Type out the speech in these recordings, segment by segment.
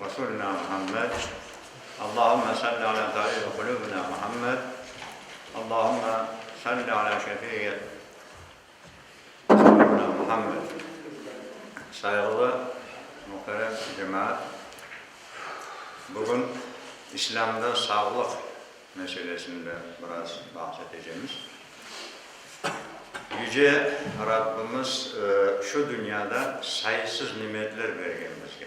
Vasulina Muhammed, Allahumme salli ala tabibi qulubina Muhammed, Allahumme salli ala şefiyyet Vasulina Muhammed. Sayğılı muhterem cemaat, bugün İslâmda sağlıq meselesinde biraz bahs etecemiz. Yüce Rabbimiz şu dünyada sayısız nimetler bergen bizge.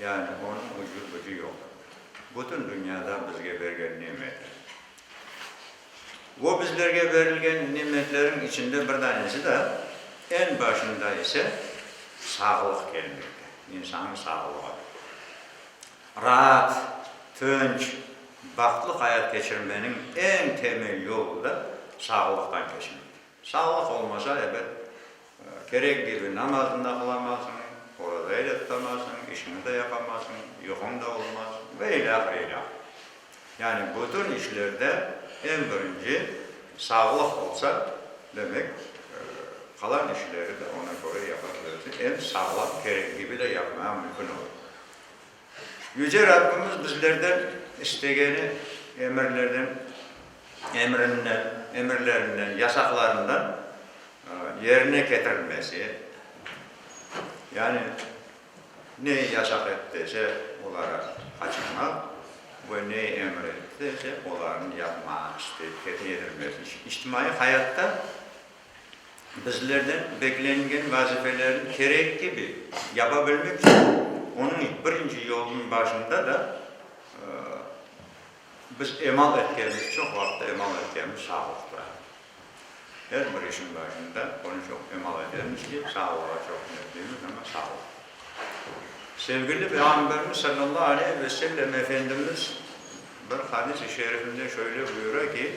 Yani onıñ ucu-bucu yoq. Bütün dünyada bizge bergen nimetler. O bizlerge berilgen nimetlerin içinde bir danesi da, en başında ise sağlıq kelmekte, insanın sağlığı. Raat, tınç, bahtlı hayat keçirmeniñ en temel yolu da sağlıqtan keçmekte. Sağlıq olmasa, ebet, Kerek kibi namazını da qılamasıñ, orazayı da tutamasıñ, işiñi de yapamasıñ, yuquñ da olmaz ve ilâhre ilâh. Yani bütün işlerde eñ birinci sağlıq olsa, demek, qalan işleri de oña köre yapa bilirsiñ, eñ sağlam, kerek kibi de yapmaya mümkün olur. Yüce Rabbimiz bizlerden istegeni emirlerden, emirinden, emirlerinden, yasaqlarından yerine ketirilmesi, yani neyi yasaq ettiyse, oları qaçırmaq ve neyi emir ettiyse, olarnı yapmaq, isteyip yerine yetirmesi içtimaiy hayatta Bizlerden beklengen vazifelerni kerek kibi yapabilmek içün onıñ birinci yolunıñ başında da biz emal etkemiz, çoq vaqıtta emal etkemiz sağlıq turar. Er bir işiñ başında onı çoq emal etemiz ki, sağlığa çoq ümitliymiz, amma sağlıq. Sevgili Peyğamberimiz sallallahu aleyhi ve sellem Efendimiz bir hadis-i şerifinde şöyle buyura ki,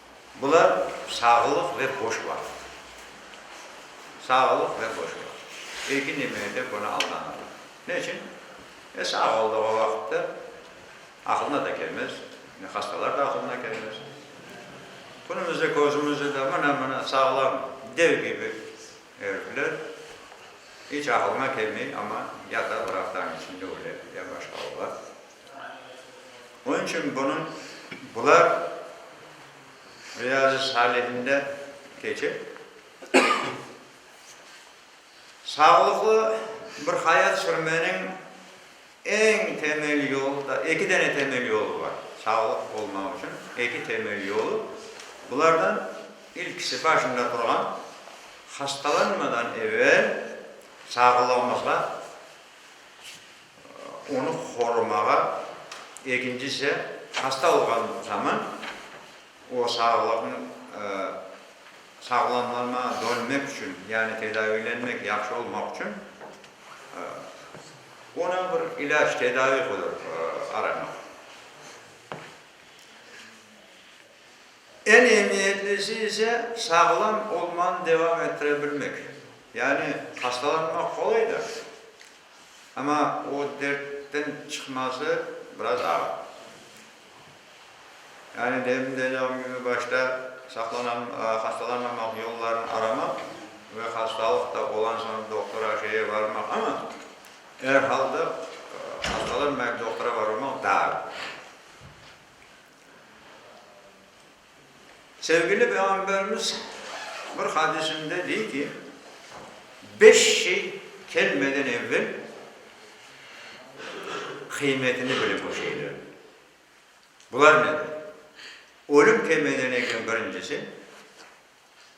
Bular sağlıq ve boş vaqıt. Sağlıq ve boş vaqıt. Erkin demege de bunı aldanırlar. Ne içün? E, sağ olduğı vaqıtta aqılına da kelmez, ne hastalar da aqılına kelmez. Bunumızda, közümüzde de mına, mına sağlam dev kibi erifler, iç aqılına kelmey, amma ya da vraqtañ içinde öle, ya başqa ola. Onıñ içün bunıñ, bular Riyazi Salihinde keçe. Sağlıqlı bir hayat sürmeniñ eñ temel yolu da, eki dene temel yolu bar, sağlıq olmaq içün eki temel yolu, bulardan ilkisi, başında turğan, hastalanmadan evel sağlığımızğa, Onı qorumağa, egincisi, hasta olğan zaman o sağlıqnı sağlamlama, dönmek içün, yani tedaviylenmek, yahşı olmaq içün ona bir ilâc, tedaviy qodar aramaq. Eñ emiyetlisi ise, sağlam olmanı devam ettire bilmek. Yani hastalanmaq qolay da. Amma o dertten çıqması biraz ağır. Yani demin de aytqan kibi, başta saqlanan, hastalanmamaq yollarını aramaq ve hastalıq da olan soñ doktora, şeye barmaq, amma er halda hastalanmayıp doktora barmamaq daa. Sevgili Peyğamberimiz bir hadisinde dey ki, beş şey kelmeden evvel qıymetini bilip o şeylerniñ. Bular nedir? Ölüm kelmeden evvel birincisi,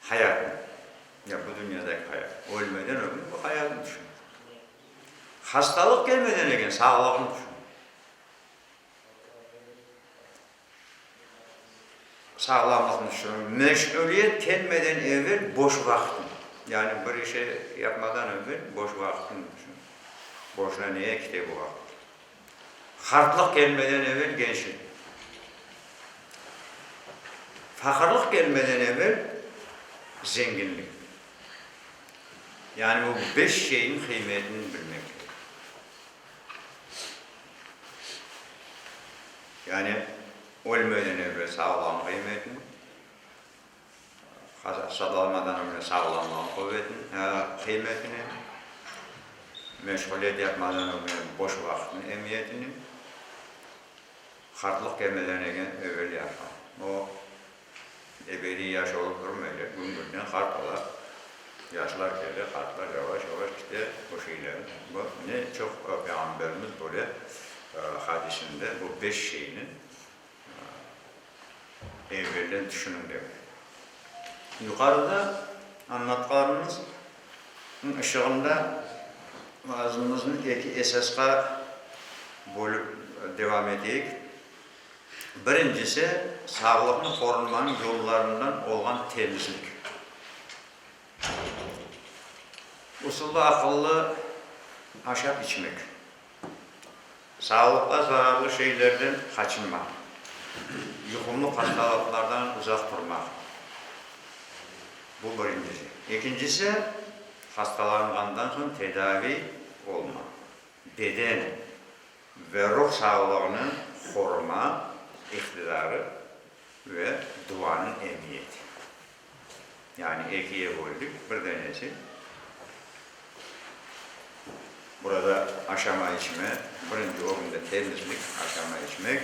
hayatnıñ, ya bu dünyadaki hayat, ölmeden ögün bu hayatnı tüşün. Hastalıq kelmeden eken sağlığını tüşün. Sağlamlığın içün, meşğuliyet kelmeden evel boş vaqtın, yani bir işe yapmadan evel boş vaqtın içün, boşuna neye kite bu vaqıt? Qartlıq kelmeden evel gençlik, faqırlıq kelmeden evel zenginlik, yani bu beş şeyniñ qıymetini bilmek kerek. Yani ölmeden evvel sağlam qıymetini, hastalanmadan evvel sağlamlığın qıymetini, meşğuliyet yapmadan evvel boş vaqıtnıñ emiyetini, qartlıq kelmeden evvel yaşa. Ebediy yaş olıp durmaycaq, gün-günden qart ola, yaşlar kele, qartlar yavaş-yavaş kite, bu şeyler. Bu ne çoq Peyğamberimiz böyle hadisinde bu beş şeyni evelden tüşüniñ dep. Yuqarıda anlatqanımıznıñ ışığında vazımıznı eki esasqa bölip devam eteyik. Birincisi, sağlıqnı qorunmanıñ yollarından olğan temizlik usulı aqıllı aşab içmek, sağlıqqa zararlı şeylerden qaçınmaq, yuqumlı qastalaqlardan uzaq turmaq, bu birincisi. Ekincisi, hastalanğandan soñ tedaviy olmaq, beden. Ve ruh sağlığını qoruma iqtidarı ve duanıñ emiyeti. Yani ekiye böldik, bir danesi burada aşama içme, birinci orunda temizlik, aşama içmek,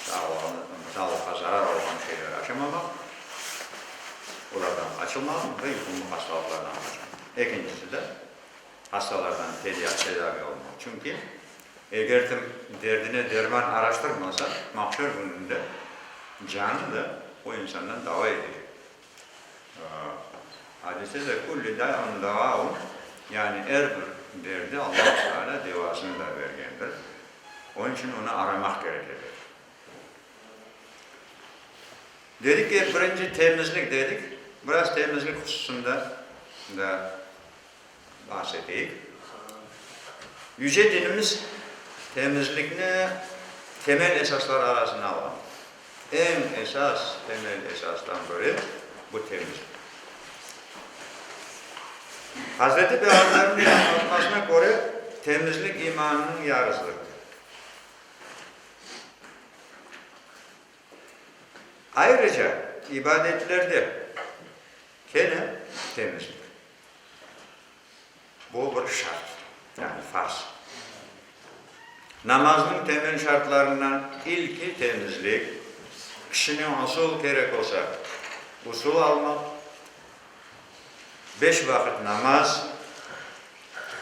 sağlığını, sağlıqqa zarar olğan şeyleri aşamamaq, olardan qaçınmaq ve yuqumlı hastalıqlardan qaçınmaq. Ekincisi de. Hastalardan feryat tedavi olmay. Çünki eger kim derdine derman araştırmasa, mahşer kününde canı da o insandan dava edecek. Adiste de, Kulli da'un deva'un, yani er bir derde Allahu Teala devasını da bergendir. Onıñ içün onı aramaq kerek edi. Dedik ki, birinci temizlik dedik, biraz temizlik hususında da Bahs eteyik. Yüce Dinimiz temizlikni temel esaslar arasına alğan. Eñ esas, temel esastan biri, bu temizlik. Hazreti Peyğamberimiz anlatmasına köre, temizlik imannıñ yarısıdır, der. Ayrıca ibadetlerde kene temizlik. Bu bir şart, yani farz. Namaznıñ temel şartlarından ilki temizlik, kişine usul kerek olsa, usul almaq, beş vaqıt namaz,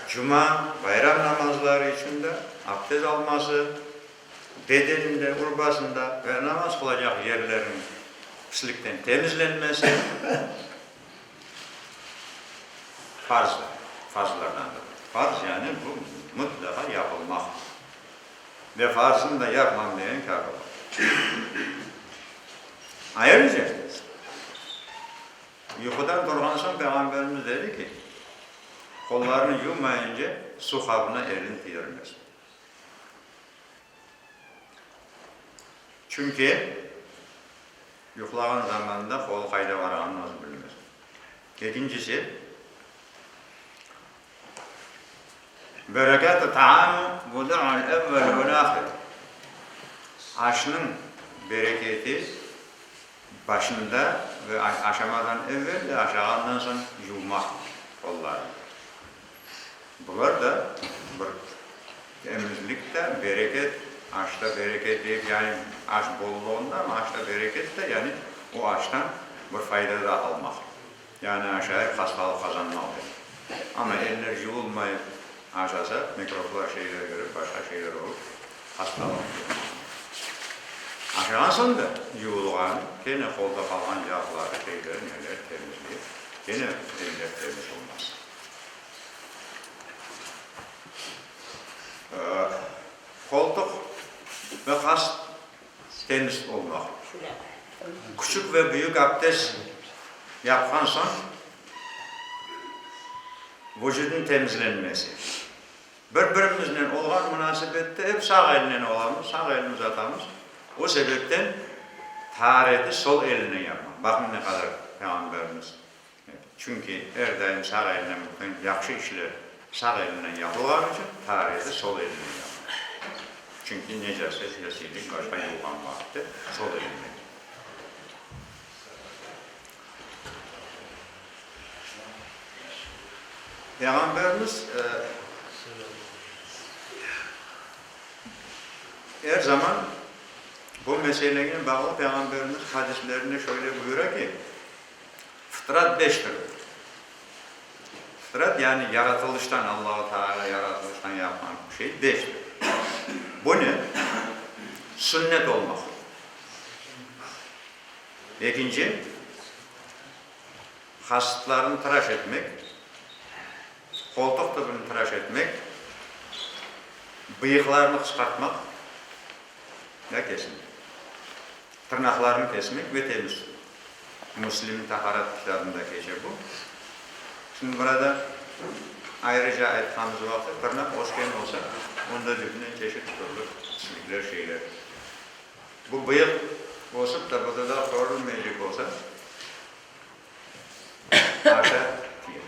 cuma, bayram namazları içün de abdest alması, bedeninde, urbasında ve namaz qılacaq yerleriniñ pislikten temizlenmesi, Farzdır, farzlardandır. Farz yani bu mıtlaqa yapılmaqtır. Ve farzını da yapmam degen kâfir olur. Ayrıca, yuqudan turğan soñ Peyğamberimiz dedi ki, qollarını yuvmayınca su qabına elini tiyirmesin. Çünki yuqlağan zamanında qolu qayda barğanını özü bilmez. Ekincisi, Berekât-ı taam vudu'ul evvel vel ahir, aşnıñ bereketi başında ve aşamadan evvel de, aşağandan soñ yuvmaq qollarnı. Bular da bir emizlik te, bereket, aş ta bereket deyip, yani aş bollığında ama aş ta bereket te, yani o aştan bir fayda da almaq. Yani acayip hastalıq qazanmaq demek. Ama eller yuvulmayıp aşasa, mikroblar, şeyler kirip, başqa şeyler olıp, hastalıq yuqmağa mümkün. Aşağan soñ da yuvulğan, kene qolda qalğan yağları, şeyleri, neleri temizleyip, kene eller temiz olmaz. Qoltuq ve qaş temiz olmaq. Küçük ve büyük abdes yapqan soñ vucudnıñ temizlenmesi. Bir-birimiznen olğan munasebette ep sağ elnen olamız, sağ elni uzatamız. O sebepten tahareti sol elnen yapmaq. Baqıñ ne qadar Peyğamberimiz. Çünki er daim sağ elnen bütün yahşı işler sağ elinden yapılğanı içün tarihı sol elinden yazılır. Çünki necaset, yesiylik başqa yuvğan vaqıtı sol elinden kelir. Peyğamberimiz er zaman bu meselenen bağlı Peyğamberimiz hadislerinde şöyle buyura ki, Fıtrat beş türlü. Fıtrat, yani yaratılıştan, Allahu Teala yaratılıştan yapqan şey beş türlü. Bu ne? Sünnet olmaq. Ekinci, qasıtlarını tıraş etmek, qoltuq tübünü tıraş etmek, bıyıqlarını qısqartmaq, ya kesilmek. Tırnaqlarnı kesmek ve temiz. Müslimniñ Taharet kitabında keçe bu. Şimdi burada ayrıca aytqanımız vaqıt, tırnaq ösken olsa, onda cütünen çeşit türlü pislikler, şeyler. Bu bıyıq ösip de bu dudaq körülmeycek olsa, aşa tiye.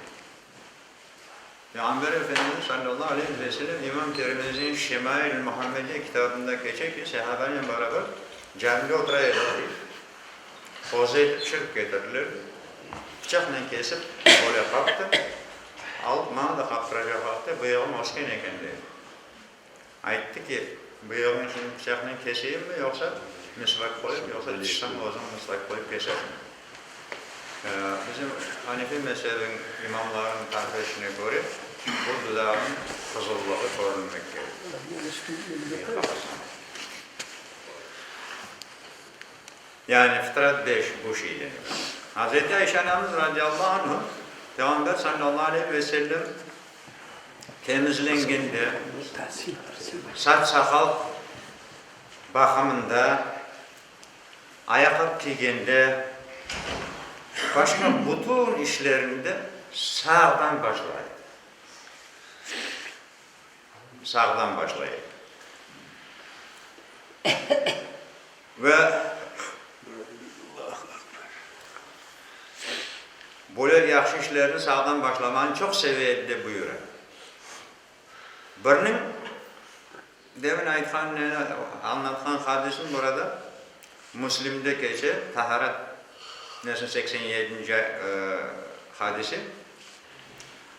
Peyğamber Efendimiz sallallahu aleyhi ve selem İmam Tirmizi'nin Şemail-i Muhammediye kitabında keçe ki, sahabanen beraber camide otura ediler, qoza etip pişirip ketirilerdi, bıçaqnen kesip böyle qaptı, alıp, maña da qaptıracaqlardı, bıyığım ösken eken, dey. Ayttı ki, bu yolnen şimdi pıçaqnen keşeyimmi, yoqsa misvak qoyıp, yoqsa tişşam özüñ misvak qoyıp keşesiñmi? Bizim hanefiy mezhebiñ imamlarınıñ tarifetine köre, bu dudağınıñ qızıllığı körünmek kerek, diye qabasan. Yani fıtrat beş bu şeyden ibaret. Hazreti Ayşe anamız, radiyallahu anhu, Peyğamber sallallahu aleyhi ve sellem Temizlengende, saç-saqal baqımında, ayaqlıq kiygende, başqa bütün işlerinde sağdan başlayıq. Sağdan başlayıq. Ve böyle yahşı işlerni sağdan başlamanı çoq seve edi, dep buyura. Birniñ demin aytqan, añlatqan hadisim burada Müslimde keçe, Taharet nesiniñ seksen yedinci hadisi.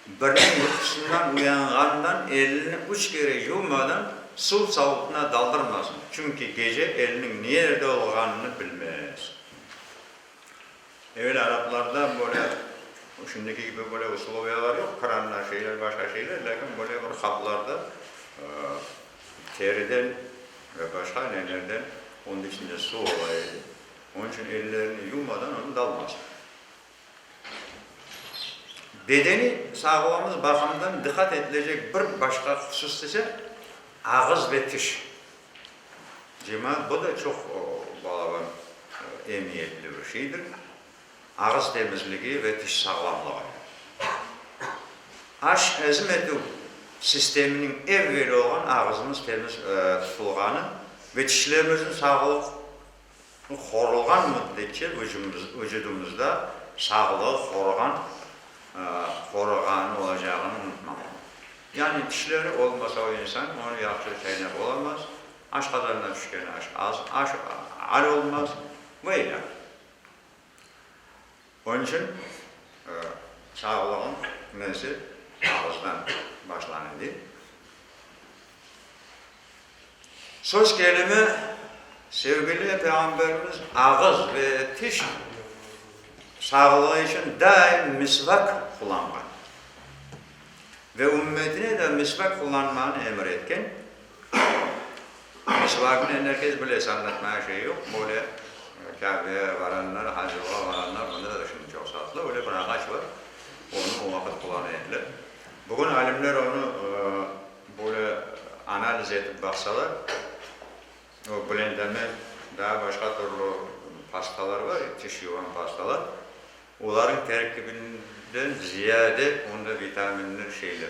Birden yuqusından uyanğandan elini üç kere yuvmadan suv savutına daldırmasın, çünki gece eliniñ nerde olğanını bilmez. Evel araplarda böyle, şimdiki kibi böyle usloviyalar yoq, kranlar, şeyler, başqa şeyler, lâkin böyle bir qaplarda teriden ve başqa nelerden, onıñ içinde suv ola edi, onıñ içün ellerini yuvmadan onı dalmasın. Bedeniy sağlığımız baqımından diqqat etilecek bir başqa husus ise, ağız ve tiş. Cima, bu da çoq balalar emiyetli bir şeydir. Ağız temizligi ve tiş sağlamlığı. Aş, ezim etüv sisteminiñ evveli olğan ağızımız temiz tutulğanı ve tişlerimizniñ sağlıq Qorulğan müddetçe vücudımızda sağlıq, qorğan, qorğan olacağını unutmamaq. Yani tişleri olmasa o insan onı yahşı çaynap olamaz, aşqazanına tüşken aş az, aş al olmaz ve ilâhre. Öncem çağlığım mezi ağızdan başlan edi. Söz kelimi Sevgili Peyğamberimiz ağız ve tiş sağlığı içün daim misvak qullanğan ve ümmetine de misvak qullanmağını emir etken. Qızlarnı endi herkes bilesi, anlatmaya şey yoq, böyle Kâbeye baranlar, hac qılğa baranlar, mında da şimdi çoq saatlı, öyle bir ağaç var, onı o vaqıt qulanı ediler. Bugün alimler onı böyle analiz etip baqsalar, o Blendamed, daa başqa türlü pastalar var, tiş yuvan pastalar, olarnıñ terkibinden ziyade onda vitaminler, şeyler.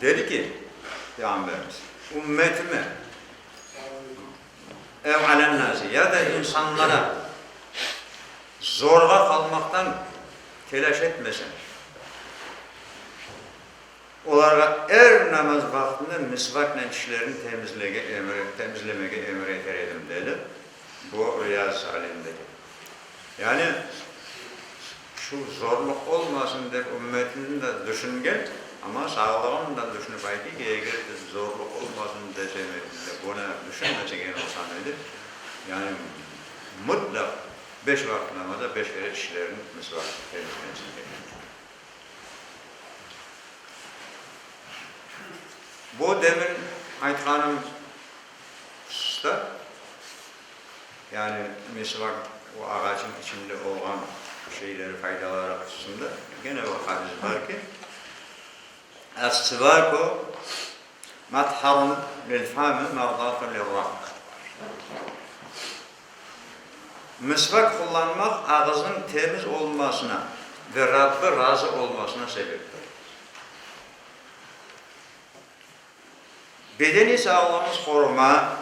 Dedi ki, Peyğamberimiz, ümmetime, ev alennâsi, ya da insanlara zorğa qalmaqtan telâş etmesin, olarğa er namaz vaqtında misvaknen tişlerini temizlege, temizlemege emir eter edim, dedi. Bu riyaz alinde. Yani, şu zorluq olmasın dep ümmetini de düşüngen, amma sağlığını da düşünip aytı ki, eger de zorluq olmasın desem edim de, bunı düşünmese gene olsam edim, yani, mutlaq beş vaqıt namaza beş kere tişlerini misvak temizlensin dedim. Bu demin aytqanım. şta, yani meşevaq o ağacın içinde olğan şeyleri faydaları hususında gene o hadis bar ki, Es-sivaku matharun lil-fami mardatu lir-Rabb, mesvak qullanmaq ağıznıñ temiz olunmasına ve Rabbi razı olmasına sebeptir. Bedeniy sağlığımız qoruma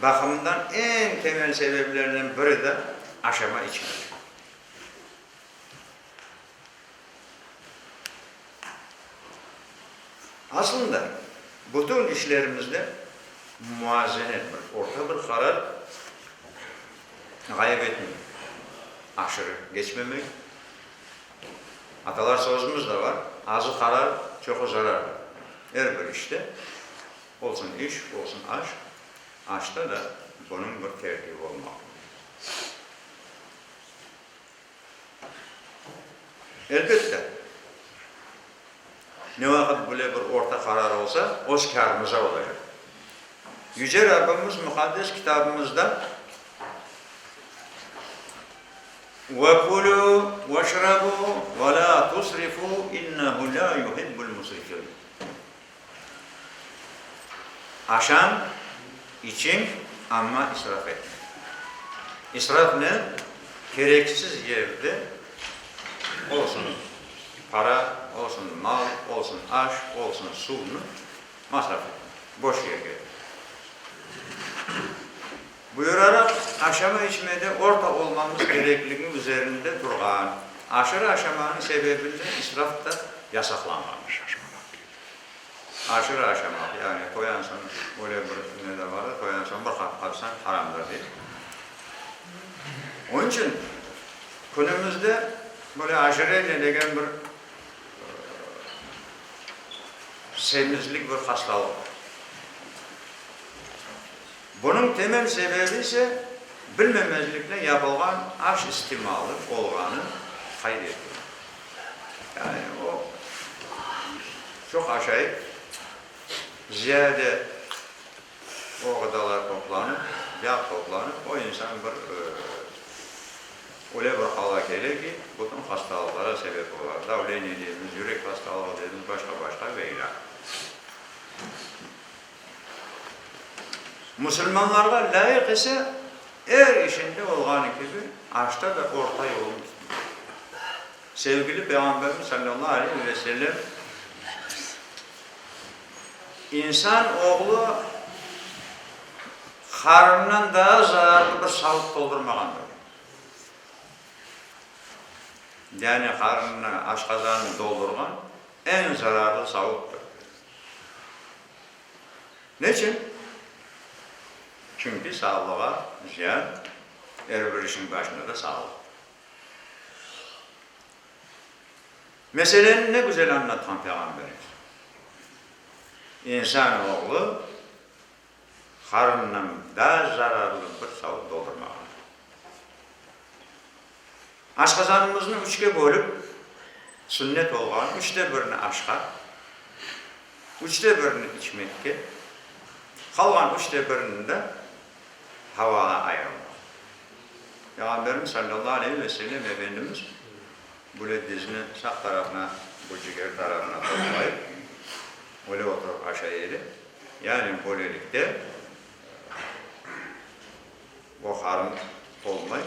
baqımından eñ temel sebeplerden biri de aşama içmemek. Aslında, bütün işlerimizde muazenet, bir orta bir qarar ğayıp etmeyik, aşırı keçmemek, Atalar sözümüz de bar, azı qarar, çoqu zarar. Er bir işte, olsun iş, olsun aş, aşta da bunıñ bir tertibi olmalı. Elbette. Ne vaqıt bile bir orta qarar olsa, öz kârımıza ola edi. Yüce Rabbimiz Muqaddes Kitabımızda, Ve kulû veşrabû ve lâ tusrifû innehu lâ yuhibbul musrifîn, Aşam içiñ, amma israf etme. İsraf ne? Kereksiz yerde olsun para, olsun mal, olsun aş, olsun suvnı masraf etme, boş yerge. Buyuraraq, aşama içmede orta olmamız kerekligi üzerinde turğan aşırı aşamanıñ sebebinden israf da yasaqlanğandır. Aşırı aşamaq, yani qoyan soñ, öyle bir ne de vardır, qoyan soñ bir qap qaçsañ haramdır deyip. Onıñ içün künümizde böyle ojireniye degen bir semizlik bir hastalıq bar. Bunıñ temel sebebi ise bilmemezlikten yapılğan aş istimalı olğanı qayd etildi. Yani o, çoq aşayıp, ziyade o ğıdalar toplanıp, yağ toplanıp, o insan bir öyle bir hala kele ki, bütün hastalıqlara sebep ola, davleniye deymiz, yürek hastalığı deymiz, başqa-başqa ve ilâhre. Musulmanlarğa lâyıq ise, er işinde olğanı kibi, aşta da orta yolnı tutmalı. Sevgili Peyğamberimiz sallallahu aleyh ve sellem, İnsan oğlu qarnından daa zararlı bir savut toldurmağandır, dedi. Yani qarnını, aşqazanını doldurğan, Eñ zararlı sağlıqtır. Neçün? Çünki sağlığa ziyan, er bir işniñ başında da sağlıq. Meseleni ne güzel añlatqan Peyğamberimiz, İnsan oğlu Qarınıñ da zararlı bir savut doldurmağandır. Aşqazanımıznı üçke bölip, sünnet olğan üçte birini aşqa, üçte birini içmekke, qalğan üçte birini de havağa ayırmağa. Peyğamberimiz sallallahu aleyhi ve sellem Efendimiz Böyle dizni sağ tarafına, bu ciger tarafına toplayıp, böyle oturıp aşağı eyle. Yani böylelikte bu qarın tolmay,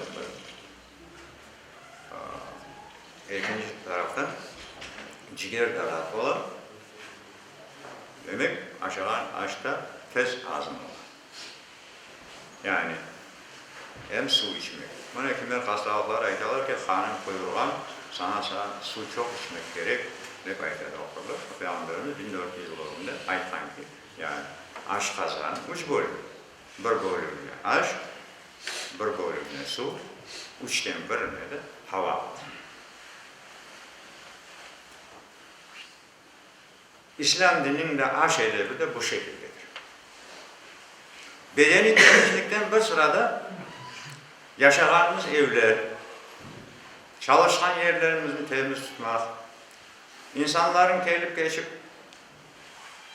bir ekinci taraftan ciger tarafı ola, demek aşağan aç ta tez azım ola. Yani, em suv içmek. Mına kimler hastalıqları aytalar ki, qanıñ quyurğan, saña suv çoq içmek kerek, dep ayta doktorlar. Peyğamberimiz biñ dört yüz yıl ögünde aytqan ki, yani, aşqazan, üç bölüm, bir bölümine aş, bir bölümine suv, üçten birine de hava. İslâm dininiñ de aş edebi de bu şekildedir. Bedeniy temizlikten bir sırada yaşağanımız evler, çalışqan yerlerimizni temiz tutmaq, insanlarnıñ kelip-keçip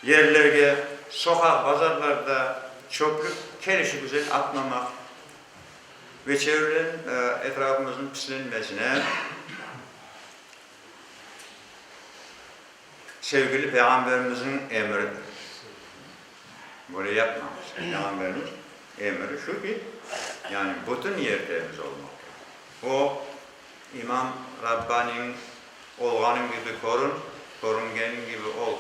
yerlerge, soqaq, bazarlarda çöplük kelişigüzel atmamaq ve çevreniñ, etrafımıznıñ pislenmesine, Sevgili Peyğamberimizniñ emridir. Böyle yapmañız. Peyğamberimiz emri şu ki, yani bütün yerleriniz olmaq kerek. O, İmam Rabbani'niñ Olğanıñ kibi körün, körüngeniñ kibi ol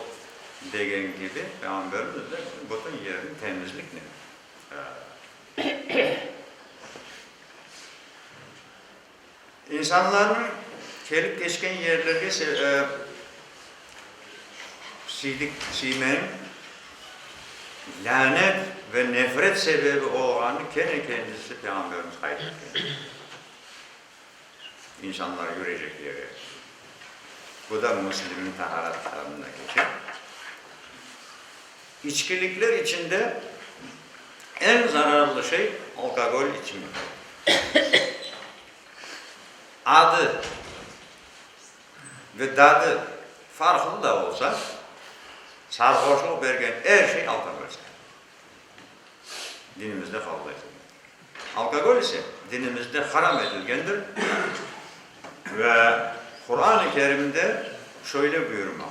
degeni kibi, Peyğamberimiz de bütün yerini temizliknen İnsanlarnıñ kelip keçken yerlerge siydik siymen, lânet ve nefret sebebi olğanını kene kendisi Peyğamberimiz qayd etken. İnsanlar yürecek yere. Bu da Müslimniñ Taharat kitabında keçer. İçkilikler içinde eñ zararlı şey alkogol içimi. Adı ve dadı farqlı da olsa, sarhoşlıq bergen er şey alkogol sayılır. Dinimizde qabul etilmeydi. Alkogol ise dinimizde haram etilgendir ve Quran-ı Kerimde şöyle buyurmalı,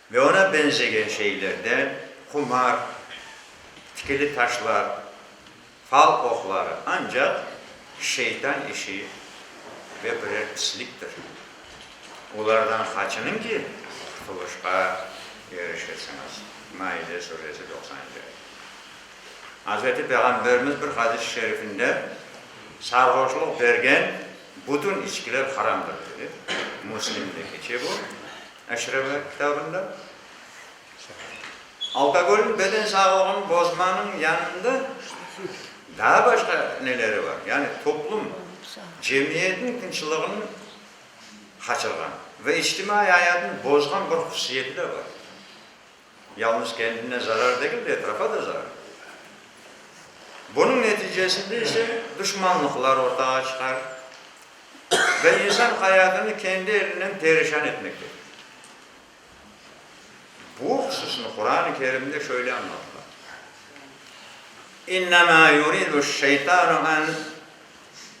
Ve oña beñzegen şeylerden, qumar, tikili taşlar, fal oqları, ancaq şeytan işi ve birer pisliktir. Olardan qaçınıñ ki, qutquluşqa erişesiñiz. Maide suresi doqsan yedi. Azerti Peyğamberimiz bir hadis-i şerifinde, Sarhoşluq bergen bütün içkiler haramdır, dedi. Müslimde keçe bu. Eşremov kitabında, Alkogolniñ beden sağlığını bozmanıñ yanında daa başqa neleri bar? Yani toplum, cemiyetniñ tınçlığını qaçırğan ve içtimaiy ayatını bozğan bir hususiyeti de bar. Yalnız kendine zarar degil de, etrafa da zarar berdi. Bunıñ neticesinde ise duşmanlıqlar ortağa çıqar ve insan hayatını kendi elinen perişan etmekte. Bu hususnı Quran-ı Kerimde şöyle añlatıla, İnnemâ yuridü'ş-şeytanu en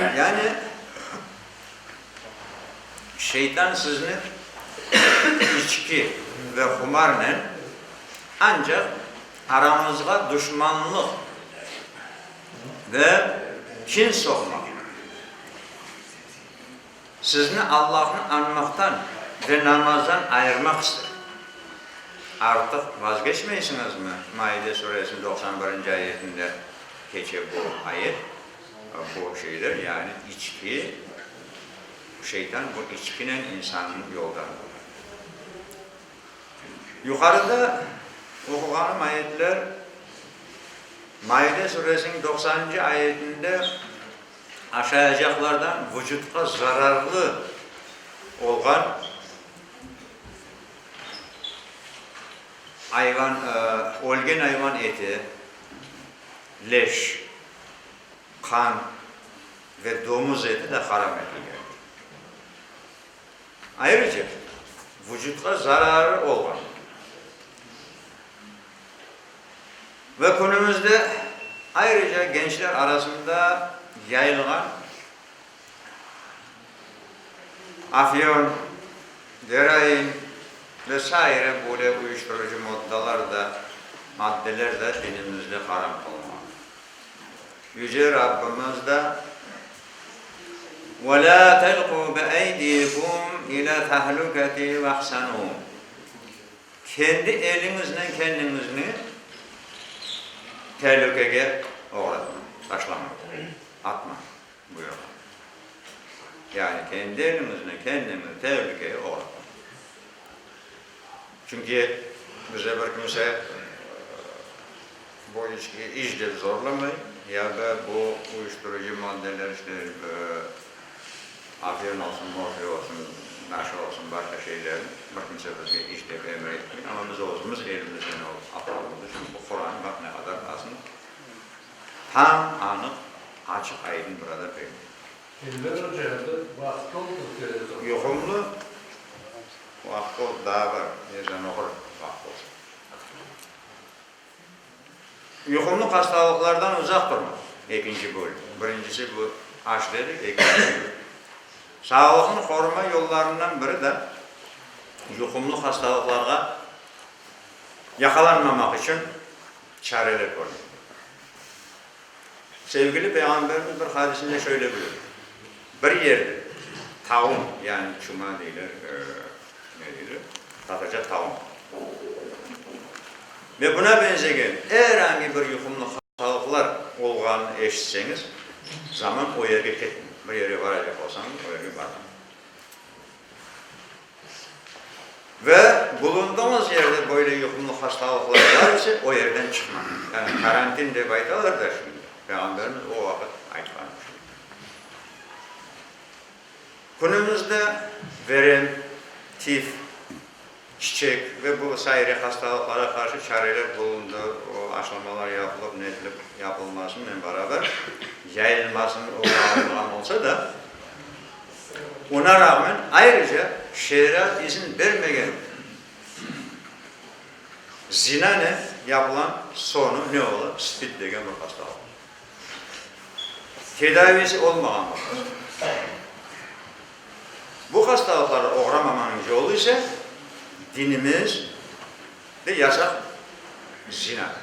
Yani, şeytan sizni içki ve humarnen ancaq aranızğa duşmanlıq ve kin soqmaq, Sizni Allahnı añmaqtan ve namazdan ayırmaq ister. Artıq vazgeçmeysiñizmi? Maide Suresiniñ doqsan birinci ayetinde keçe bu ayet. Bu şeyler, yani içki, şeytan bu içkinen insannı yoldan quvay. Yuqarıda oquğanım ayetler Maide Suresiniñ doqsanıncı ayetinde, Aşayacaqlardan vucutqa zararlı olğan ayvan, ölgen ayvan eti, leş, qan ve domuz eti de haram etilgen. Ayrıca, vucutqa zararı olğan. Ve künümizde ayrıca gençler arasında yayılğan afyon, geroin ve saire böyle uyuştırıcı moddalar da, maddeler da dinimizde haram qılınğan. Yüce Rabbimiz da Ve la telqu bi eydikum ila tahlukati vahsanu. Kendi eliñiznen kendiñizni telükege oğratmañ, taşlamañ, atmañ buyurğan. Yani kendi eliñiznen kendiñizni telükege oğratmañ. Çünki bize bir kimse, Bu içki iç dep zorlamay, ya da bu uyuşturucı maddeler işte afiyon olsun, morfiy olsun, naşa olsun, başqa şeyler, bir kimse bizge iç dep emir etmey, amma biz özümüz elimizden alıp aptığımız içün bu Quran baq ne qadar basım tam anıq, açıq, aydın burada belli. Elber oca, bir vaqıt oldu televizor. Yuqumlı vaqıt oldu, daa bar, yerden oqur vaqıt olsa. Yuqumlı hastalıqlardan uzaq turmaq, ekinci bölüm. Birincisi bu aş dedik, ekincisi bu. Sağlıqnı qoruma yollarından biri de yuqumlı hastalıqlarğa yaqalanmamaq içün çareler körmek. Sevgili Peyğamberimiz bir hadisinde şöyle buyurdı, Bir yerde taun, yani çuma deyler, ne deyler, tatarca taun, ve buna benzegen er angi bir yuqumlı hastalıqlar olğanını eşitseñiz, zaman o yerge ketmeng, bir yerge baracaq olsañız, o yerge barmañ. Ve bulunduğıñız yerde böyle yuqumlı hastalıqlar bar ise, o yerden çıqmañız. Yani karantin dep aytalar da şimdi, Peyğamberimiz o vaqıt aytqanı şudur. Künümüzde verem, tif, çiçek ve bu saire hastalıqlara qarşı çareler bulundı, o aşılamalar yapılıp, netilip yapılmasınen beraber, yayılmasın, o yayılğan olsa da, Oña rağmen ayrıca şeere izin bermegen zinanen yapılan soñu ne ola, spid degen bir hastalıq. Tedavisi olmağan bir hastalıq. Bu hastalıqlarğa oğramamanıñ yolu ise dinimiz ve yasak zinadır.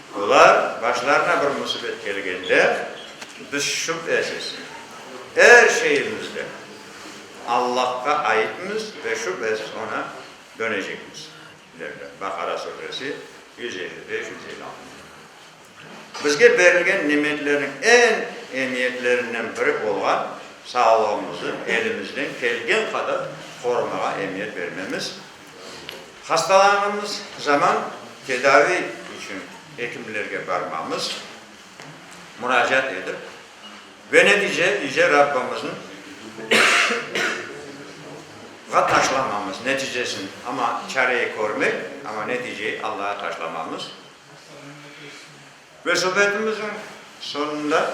Olar başlarına bir musibet kelgende, biz şübhesiz, er şeyimizden Allahqa aitmiz ve şübhesiz Oña dönecekmiz, derler, Baqara suresi, yüz elli beş, yüz elli altıncı ayetler. Bizge berilgen nimetlerniñ eñ emiyetlerinden biri olğan sağlığımızı elimizden kelgen qadar qorumağa emiyet bermemiz, Hastalanğanımız zaman tedavi içün ekimlerge barmamız, muracaat edip, ve netice yüce Rabbımızın ğa taşlamamız neticesin, amma çareyi körmek, amma neticeyi Allağa taşlamamız. Ve subetimiziñ sonunda.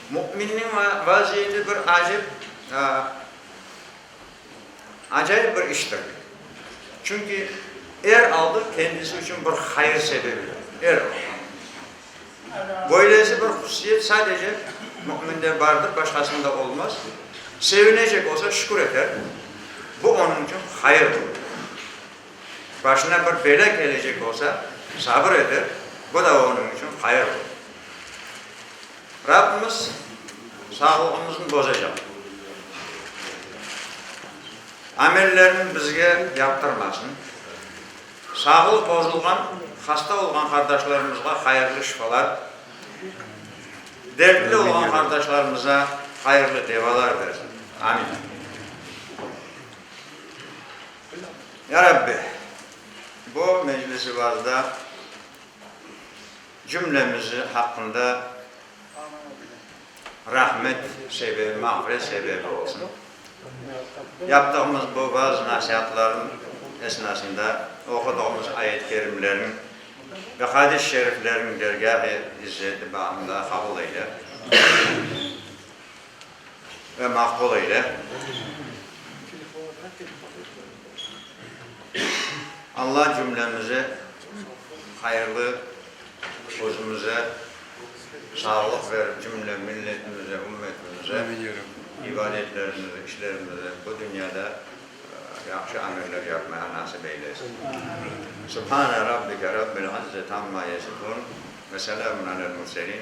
Müminniñ vaziyeti bir acep, acayip bir iştir. Çünki er aldı kendisi içün bir hayır sebebidir. Er aldı. Böylesi bir hususiyet sadece müminde bardır, başqasında olmaz. Sevinecek olsa şükür eter, bu onıñ içün hayırdır. Başına bir bela kelecek olsa sabır eter, bu da onıñ içün hayırdır. Rabbimiz sağlığımıznı bozacaq, amellerini bizge yaptırmasın, sağlıq bozulğan, hasta olğan qardaşlarımızğa hayırlı şifalar, dertli olğan qardaşlarımıza hayırlı devalar bersin. Amin. Ya Rabbi, bu meclisi-vazda, Cümlemiz haqqında rahmet sebebi, mağfiret sebebi olsun. Yaptığımız bu vaz-nasiatların esnasında oqudığımız ayet-kerimlerin ve hadis şeriflerin dergâh-i izzeti bağında qabul eyle. E, maqul eyle. Alla cümlemize hayırlı, özümize sağlıq berip, cümle milletimize, ümmetimize, ibadetlerimize, işlerimize bu dünyada yahşı ameller yapmağa nasip eylesin. Subhane Rabbike Rabbil İzzet amma yesifun ve selamun alel murselin.